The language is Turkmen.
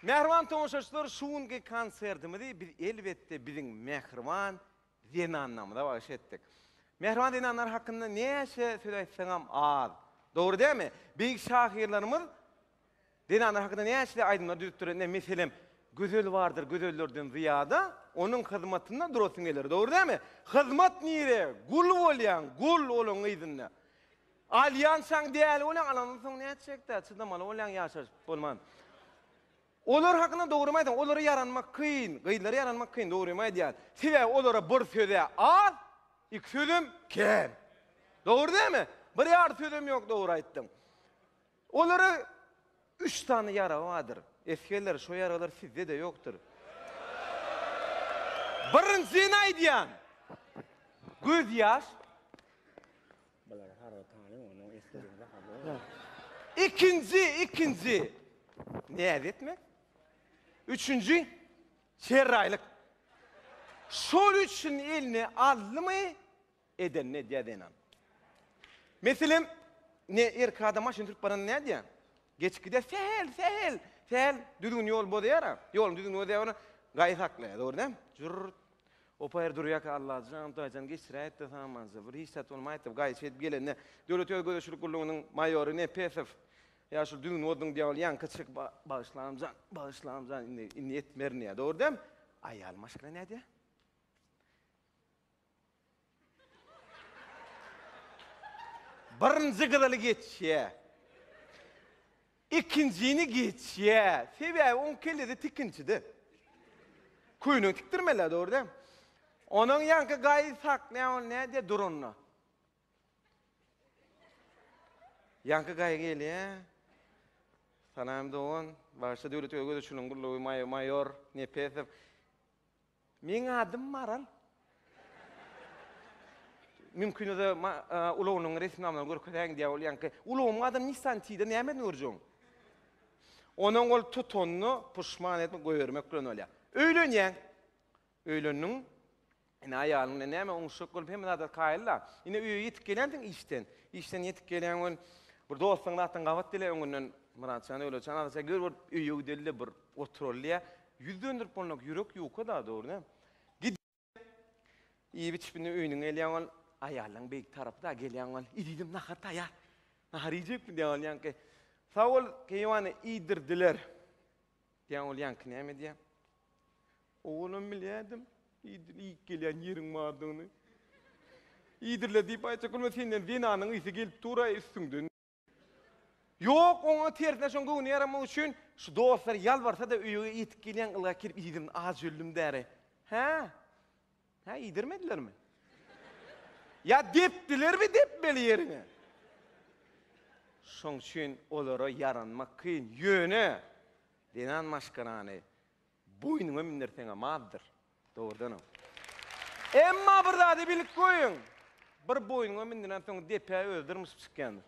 Mähriban tomaşaçylar şu günki konsertimizi biz elbetde biziň mähriban zenanlarymyza bagyş etdik. Mähriban zenanlar hakynda näçe söz aýtsaňam az. Dogry dälmi? Beýik şahyrlarymyz zenanlar hakynda näçe aýdymlar düzüpdir. Ine meselem Gözel bardyr gözellerden zyýada, onuň hyzmatynda durasyn geler. Dogry dälmi? Hyzmat nire? Gul bolýaň, gul olaň yzynda. Alýansaň däli bolýaň alandan soň nätjekdä çydamaly bolýaň ýaşaşyp bolman. Olar hakynda dogrymy aýtsaň olara ýaranmak kyn gyzlara ýaranmak kyn dogrymy aýdýan sebäbi olara bir sözä az iki sözem kän dogry dälmi bir ýar sözem ýok dogry aýtdyň olara üç sany ýaragy bardyr esgerler şo ýaraglar sizde de ýokdur birinjisini aýdýan göz ýaş Bulary harby tanyň onuň esgeriniň zahady bar. Ikinji, ikinji, näz etmek. Üçünji, serraýlyk. Şol üçin eline aldymy, edenini edýär zenan. Meselem, ine, erkek adam maşyn sürüp baranda nädýär? Geçip gidýär, sähel, sähel, sähel, düzgün ýol bozýar-a. Ýoluň düzgünini bozýar, gaýy saklaýar, dogry däl? Jürrt. Opa her durýarka Allajan, Hudaýjan geçiräýt-de samanja, bir hiç zat bolmaýtdy, gaýyçy edip gelende, Döwlet ýol gözegçilik gullugynyň maýory Nepesow, ýa şul düýn bozdun dýabol ýaňky çyk, ba, bagyşlamjan, bagyşlamjan, indi, indi etmerin diýýär, dogry däl, aýaly maşgala nädýär? Birinji gyzyly geçýä. Ikinjini geçýä. Sebäbi oň kellesi tikinçide. Köýnek tikdirmeli-ä, dogry däl? Onuň ýaňky gaýy saklaýan ol nädýä duranda? Ýaňky gaýy gelýä. Salam dogan. Bagşy Döwlet Öwezow şunuň gullugy maýor Nepesow. Meň adym Maral. Mümkin öze ulagynyň resminamalaryny görkezäýiň diýýä ol ýaňky. Ulagymyň adyny Nissan T-de näme bilen görjegiň? Onuň ol tutanyny puşman edip goýbermek bilen bolýa. Öýlenýäň. Öýlendiň. Ine aýalyň bilen näme oňuşjak bolup hemme zada kaýyl-da. Ine öýe ýetip gelýänsiň işden. Işden ýetip gelýäň welin bir dostuň zatyn gabat dile öňünden Myratjan Döwletjan azaja gör bir öýe gideli-de bir oturaly diýýä. Ýüz dönderip bolnak ýürek ýuka da dogry dä. Gidip iýip içip indi öýnüň gelýäň ol aýallaň beýik tarapy da gelýäň ol ididem nahar taýar. Nahar iýjekmi diýýä ol ýaňky. Sag bol keýwany iýdirdiler diýýä ol ýaňky näme diýýä. Owalam bilýädim idil iýip gelýän ýeriň bardygyny. Iýdirle diýip aýtjak bolma senden zenanyň ysy gelip dur-aý üstüňden. Ýok, oňa tersine şoň göwni ýaramak üçin şu dostlar ýalbarsa-da öýüge ýetip gelýän ylga kirip iýdirin, az jöllim däri. Hä? Hä, iýdirmedilermi? Ýa depdilermi depmeli ýeriňe? Şoň üçin olara ýaranmak kyn. Ýöne zenan maşgarany Boýnuňa mindirseňem azdyr, dogrudanam. Emma bir zady bilip goýuň, bir boýnuňa mindirensoň depä özi dyrmyşyp çykýandyr.